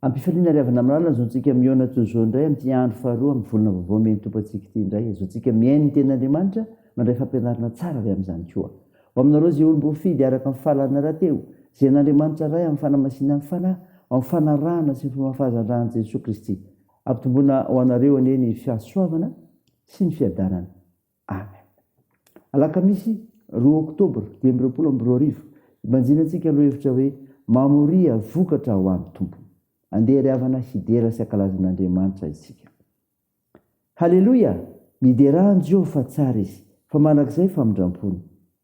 Ampifaliana ry havana malala azaontsika mihaona toy izao indray amin'ity andro faharoa amin'ny volana vaovao mihaino Tompo antsika ity indray azaontsika mihaino ny tenin'Andriamanitra mandray fampianarana tsara avy amin'izany koa ho aminareo izay olom-boafidy araka ny fahalalana rahateo izay an'Andriamanitra Ray amin'ny fanamasinan'ny fanahy ho amin'ny fanarahana sy ny fomba fahazandrahan'i Jesoa Kristy ampitomboina ho anareo anie ny fahasoavana sy ny fiadanana. Amen. Alakamisy roa oktobra dimy amby roapolo amby roa arivo, ibanjinantsika lohahevitra hoe Mamoria vokatra ho an'ny Tompo. Andeha ry havana hidera sy hankalaza an'Andriamanitra isika. Haleloia! Miderà an'i Jehovah fa tsara izy, fa mandrakizay famindram-pony.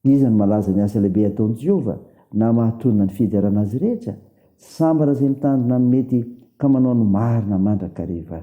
Iza no malaza ny asa lehibe ataon'i Jehovah na mahatonina ny fiderana azy rehetra? Sambatra izay mitandrina ny mety ka manao ny marina mandrakariva.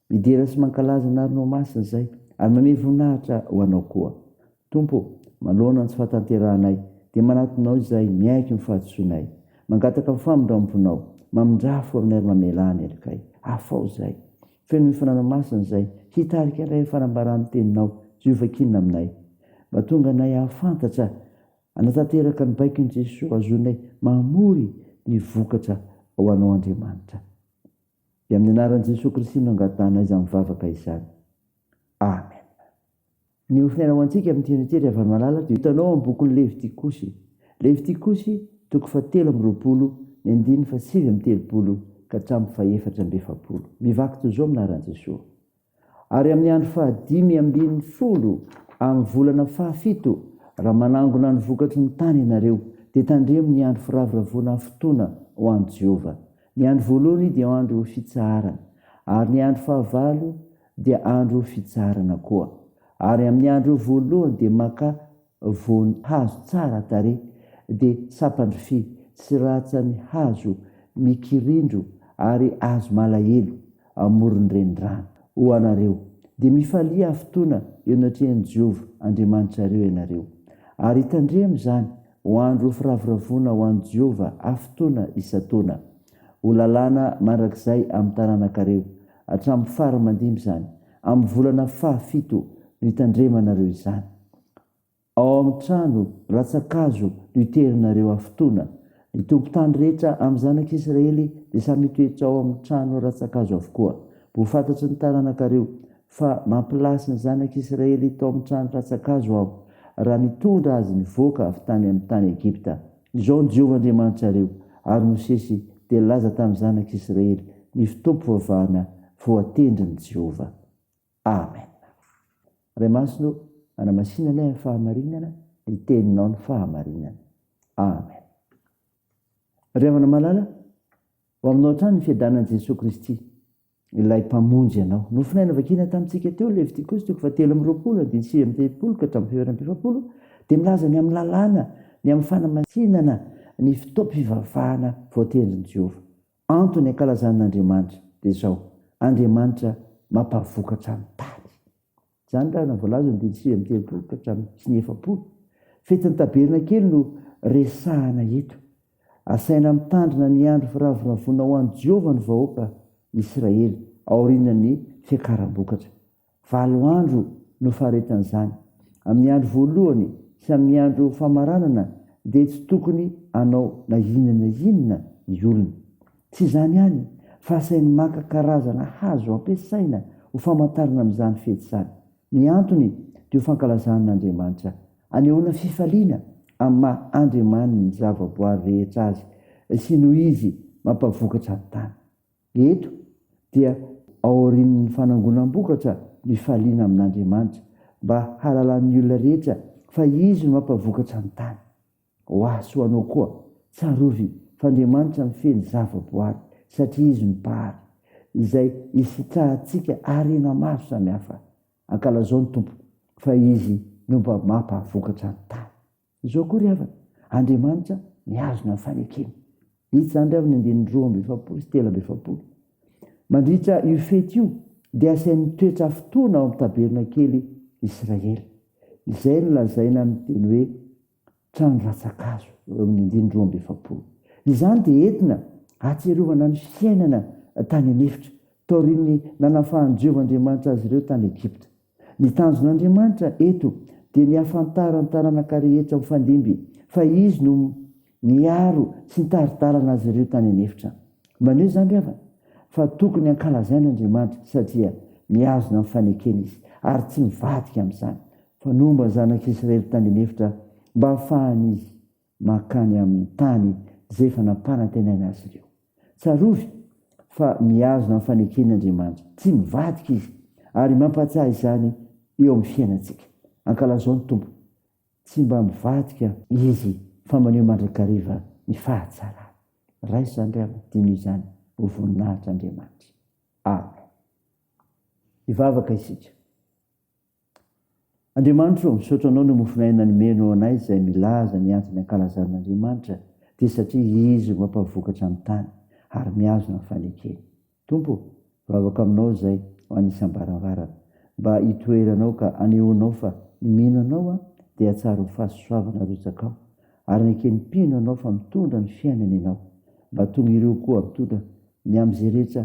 Midera sy mankalaza anarnao ho masina izahay ary manome voninahitra ho anao koa. Tompo ô, manoloana ny tsy fahatanterahanay, dia manatonao izahay miaiky ny fahadisoanay. Mangataka ny famindramponao. Mamindrà fo aminay ary mamela ahy ny helikay. Afao izahay. Feno ny fananao masina izahay, hitarika anay amin'ny fanambaran'ny Teninao. Jehovah kinina aminay. Mba tonga anay hahafantatra, hanatanteraka ny baikon'i Jesoa, hahazoanay mamory ny vokatra ho anao Andriamanitra. Dia amin'ny anaran'i Jesoa Kristy no angatahana izany vavaka izany. Amen. Ny ofinaina ho antsika amin'ny tian'i Jery havany malala dia hitanao amin'ny bokin'i Levitikosy. Levitikosy, toko fahatelo amby roapolo, ny andininy fahasivy amby telopolo ka hatramin'ny fahefatra amby efapolo. Mivaky toy izao amin'ny anaran'i Jesoa. ary amin'ny andro fahadimy ambin'ny folo amin'ny volana fahafito, raha manangona ny vokatry ny tany ianareo, dia tandremo ny andro firavoravoana afotoana ho an'i Jehovah. Ny andro voalohany dia andro fitsaharana, ary ny andro fahavalo dia andro fitsaharana koa, ary amin'ny andro voalohany dia makà voany hazo tsara tarehy dia sampan-dry fy tsy ratsany hazo mikirindro ary hazo malahelo amoron'ny renirano. Ho anareo, dia mifalia fotoana eo anatrehan'i Jehovah Andriamanitrareo ianareo, ary tandremo izany ho andro firavoravoana ho an'i Jehovah fotoana isan-taona. Ho lalàna mandrakizay amin'ny taranakareo, hatramin'ny fara aman-dimby izany, amin'ny volana fahafito no hitandremanareo izany. Ao amin'ny trano rantsan-kazo no hiterinareo hafotoana. Ny tompon-tany rehetra amin'ny zanak'i Israely dia samy hitoetra ao amin'ny trano rantsan-kazo avokoa. Ho fantatry ny taranakareo fa mampilasy ny zanak'i Israely tao amin'ny trano rantsan-kazo Aho, raha nitondra azy nivoaka avy tany amin'ny tany Egypta. Izao no Jehovah Andriamanitrareo, ary Mosesy dia nilaza tamin'ny zanak'i Israely ny fotoam-pivavahana voatendrin'i Jehovah. Amen. Ray Masina ô, anamasinanay amin'ny fahamarinana ny teninao ny fahamarinana. Amen. Ry havana malala, ho aminao hatrany ny fiadanan'i Jesoa Kristy, ilay Mpamonjy anao. Nofonay novakina tamintsika teo Levitikosy toko fahatelo amby roapolo andininy sivy amby telopolo ka hatramin'ny fiheveran'ny mpifapolo dia milaza ny amin'ny lalàna, ny amin'ny fanamasinana ny fotoam-pivavahana voatendrin'i Jehovah. Antony ankalazan'Andriamanitra dia izao, Andriamanitra mampavokatra ny tany. Izany raha voalaza ny didy sivy amby telopolo ka hatramin'ny sy ny efapolo. Fetin'ny Tabernakely no resahana eto. Asaina mitandrina ny andro firavoravoana ho an'i Jehovah ny vahoaka Israely aorian'ny fiakaram-bokatra. Valo andro no faritran'izany. Amin'ny andro voalohany sy amin'ny andro famaranana dia tsy tokony hanao na inona na inona ny olona. Tsy izany ihany fa asainy maka karazana hazo ampiasaina ho famantarana amin'izany fety izany. Ny antony dia ho fankalazana an'Andriamanitra. Anehoana fifaliana amin'ny maha Andriamaniny ny zavaboary rehetra azy sy noho izy mampavokatra ny tany. Eto dia aorian'ny fanangonam-bokatra mifaliana amin'Andriamanitra mba hahalalan'ny olona rehetra fa Izy no mampavokatra ny tany. Ho ahy sy ho anao koa, tsarovy f'Andriamanitra mifehy ny zava-boary satria Izy no Mpahary, izay isitrahantsika harena maro samihafa. Ankalazao ny Tompo fa Izy no mba mampavokatra ny tany. Izao koa ry havana, Andriamanitra mihazona ny fanekena. Hita izany ry havana andininy roa amby efapolo sy telo amby efapolo. Mandritra io fety io dia asainy mitoetra afotoana ao amin'ny tabernakely Israely, izay no lazaina amin'ny teny hoe trano ratsa-kazo, eo amin'ny andininy roa amby efapolo. Izany dia entina hahatsiarovana ny fiainana tany an'efitra, taorian'ny nanafahan'i Jehovah Andriamanitra azy ireo tany Egypta. Ny tanjon'Andriamanitra eto dia ny hahafantaran'ny taranaka rehetra mifandimby fa Izy no niaro sy nitari-dalana azy ireo tany an'efitra. Maneho izany, ry havana, fa tokony hankalazaina Andriamanitra satria mihazona ny fanekena Izy ary tsy mivadika amin'izany, fa nomba ny zanak'Israely tany an'efitra mba hahafahan'izy mankany amin'ny tany izay efa nampanantenaina azy ireo. Tsarovy fa mihazona ny faneken'Andriamanitra, tsy mivadika izy, ary mampahatsiahy izany eo amin'ny fiainantsika. Ankalazao ny Tompo, tsy mba mivadika Izy fa maneho mandrakariva ny fahatsarany. Raiso izany ry havana, dino izany ho voninahitr' Andriamanitra. Amen. Hivavaka isika. Andriamanitro ô, misaotra Anao noho mofon'aina nomeno ho anay izay milaza ny antony ankalazan'Andriamanitra dia satria Izy no mampavokatra ny tany ary mihazona ny fanekeny. Tompo ô, vavaka Aminao izay ho an'ny isam-baravarana mba hitoeranao ka anehoanao fa ny mino Anao aho dia hahatsaro ny fahasoavana arotsakao ary neken'ny mpino Anao fa mitondra ny fiainana Ianao mba tonga ireo koa mitondra ny amin'izay rehetra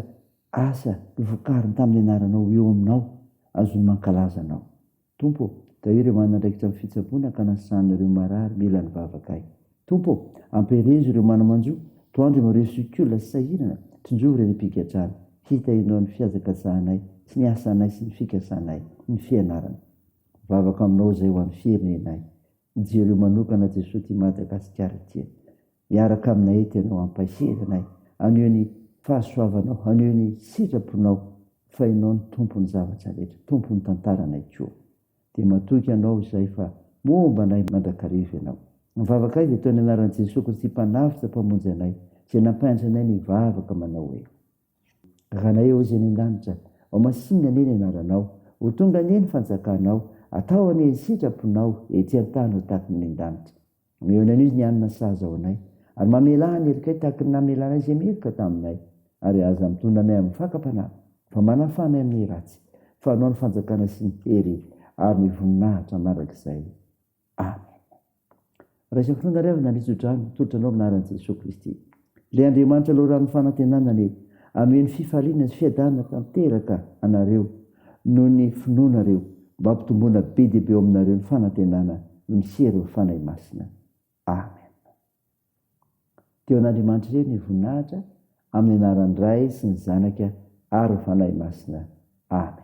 Asa novokariny tamin'ny anaranao eo aminao, azony mankalaza anao. Tompo ô, Izaho ireo manandraikitra ny fitsaboana ka nasana ireo marary mila ny vavakay. Tompo ô, amperezo ireo mana-manjo, toandro eo amin'ireo zoky olona sy sahirana, tsinjovy ireny mpigadrana. Hita enao ny fiajakatsahanay sy ny asanay sy ny fikasanay, ny fianarana. Vavaka aminao izay ho an'ny firenenay. Jereo manokana Jesoa ity Madagasikara ity. Miaraka aminay eto ianao hampahery anay, haneho ny fahasoavanao, haneho ny sitraponao fa ianao no tompon'ny zavatra rehetra, tompon'ny tantaranay koa. Dia matoky anao izahay fa momba anay mandrakariva ianao. Ny vavakay dia toy ny anaran'i Jesoa Kristy Mpanavotra Mpamonjy anay izay nampahendry anay nivavaka manao hoe, Rainay ao izay any an-danitra, ho masinina anie ny anaranao, ho tonga anie ny fanjakanao, atao anie ny sitraponao ety an-tany ho tahaka ny any an-danitra. Mionona an'izy ny hanina sahaza ao anay, ary mamelà ny herikay tahaka ny namelanay izay miherika taminay, ary aza mitondra anay amin'ny fakam-panahy, fa manafaha anay amin'ny ratsy, fa anao ny fanjakana sy ny hery ary ny voninahitra mandrakizay. Amen. Raha isan-potoana ary aho nandritso-drano, tolotra anao amin'ny anaran'i Jesoa Kristy. Ilay Andriamanitra loran'ny fanantenana anie hameno fifaliana sy fiadanana tanteraka anareo noho ny finoanareo mba hampitomboana be dia be ao aminareo ny fanantenana miseho ireo Fanahy Masina. Amen. Dia ho an'Andriamanitra irery ny voninahitra amin'ny anaran'ny Ray sy ny Zanaka ary ny Fanahy Masina. Amen.